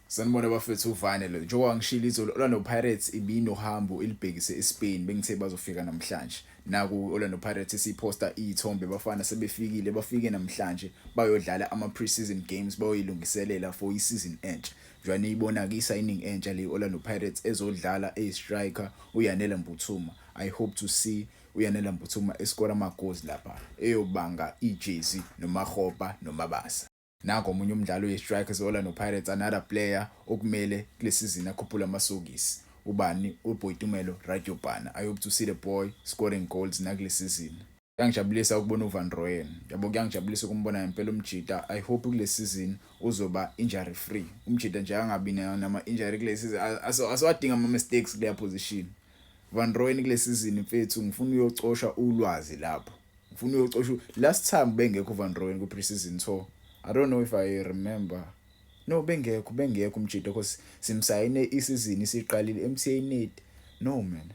Sanibona bafethu uvane lo njengoba ngishilo izolo Orlando Pirates ibinohambo ilibhekise eSpain bengithe bazofika namhlanje naku Orlando Pirates siposta izithombe bafana sebefikile bafike namhlanje bayodlala ama pre-season games bayoyilungiselela for i-season entsha njengoba niyibona ke signing entsha le Orlando Pirates ezodlala e striker uYanela Mbuthuma i hope to see uyanela mbuthuma esikora amagozi lapha eyobanga ijezi nomahopa nomabasa Nangu omunye umdlali weStrikers e-Orlando Pirates, another player okumele kule sizini akhuphule amasokisi. Ubani? UBoitumelo Radiopane. I hope to see the boy scoring goals nakule sizini. Kuyangijabulisa ukubona uVan Rooyen. Yabo kuyangijabulisa ukumbona ngempela uMjita. I hope kule sizini uzoba injury free. UMjita nje angabi nama injury kule sizini. Asiwadinga ama mistakes kule position. Van Rooyen kule sizini mfethu ngifuna uyocosha ulwazi lapho. ngifuna uyocosha last time bengekho van rowen kwi-preseason so i don't know if i remember no bengekho bengekho umjita cause simsayine isizini isiqalile emthnate no man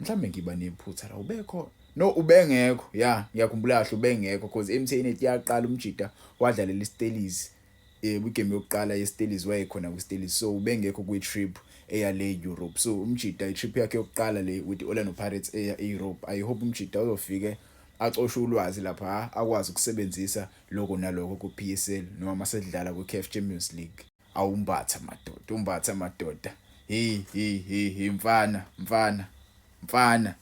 mhlawumbe ngiba nephutha la ubekhona no ubengekho ya ngiyakhumbula kahle ubengekho cause emthnate yaqala umjita wadlalela istelisi um igame yokuqala yeStellies wayekhona kwiStellies so ubengekho kwi-trip eya le Europe so umjita i-trip yakhe yokuqala le with Orlando Pirates eya e-Europe i hope umjita uzofike acoshe ulwazi lapha akwazi ukusebenzisa lokho nalokho ku-PSL noma masedlala kwi-CAF Champions League awumbatha madoda umbatha madoda hey hey hey hey mfana mfana mfana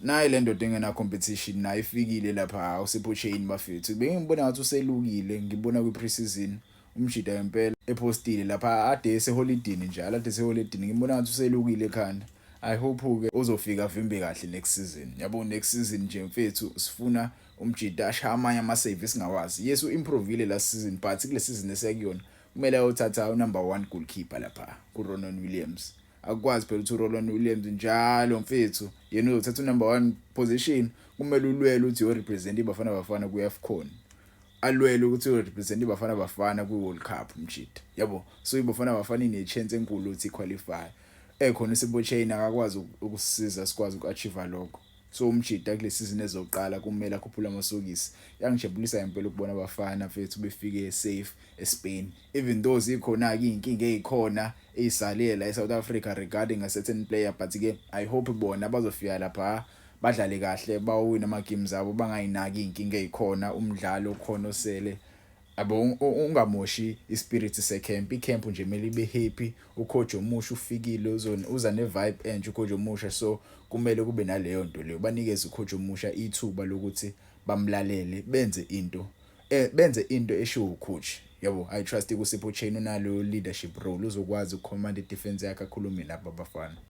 nayi le ndoda engena competition nayo ifikile lapha usipho chain bafethu bengibona ngathi uselukile ngibona kwi preseason umjida ngempela epostile lapha ade eseholidini njalo ade eseholidini ngibona ngathi uselukile ekhanda i hope ke uzofika vimbe kahle next season yabo next season nje mfethu sifuna umjida ashaya amanye ama save singawazi yes u improvile last season but kule season esiyakuyona kumele ayothatha u number 1 goalkeeper lapha ku Ronon Williams akukwazi phela ukuthi uRolwan Williams njalo mfethu yena uzothatha unumber one position kumele ulwele ukuthi uyorepresenta ibafana bafana kwi-afcon alwele ukuthi uyorepresenta ibafana bafana kwi-world cup mjita yabo so ibafana bafana inechance enkulu ukuthi iqualify ekhona usibochain akakwazi ukusisiza sikwazi uku-achieve lokho so umjita kule season ezoqala kumele akhuphule amasokisi yangijabulisa ngempela ukubona abafana mfethu befike safe espain Even though zikhona ke inkinga ezikhona ezisale la eSouth Africa regarding a certain player but ke I hope bona bazofika lapha badlale kahle bawina ama games abo bangayinaki inkinga ezikhona umdlalo okhona osele abo ungamoshi ispirit secamp icamp nje mele ibe happy ucoach omusha ufikile uzona uza ne vibe enje ucoach omusha so kumele kube naleyo nto leyo banikeze ucoach omusha ithuba lokuthi bamlalele benze into eh benze into eshiwo ucoach yabo i trust kusipho chain unalo leadership role uzokwazi ukucommand defense yakhe akhulume nabo abafana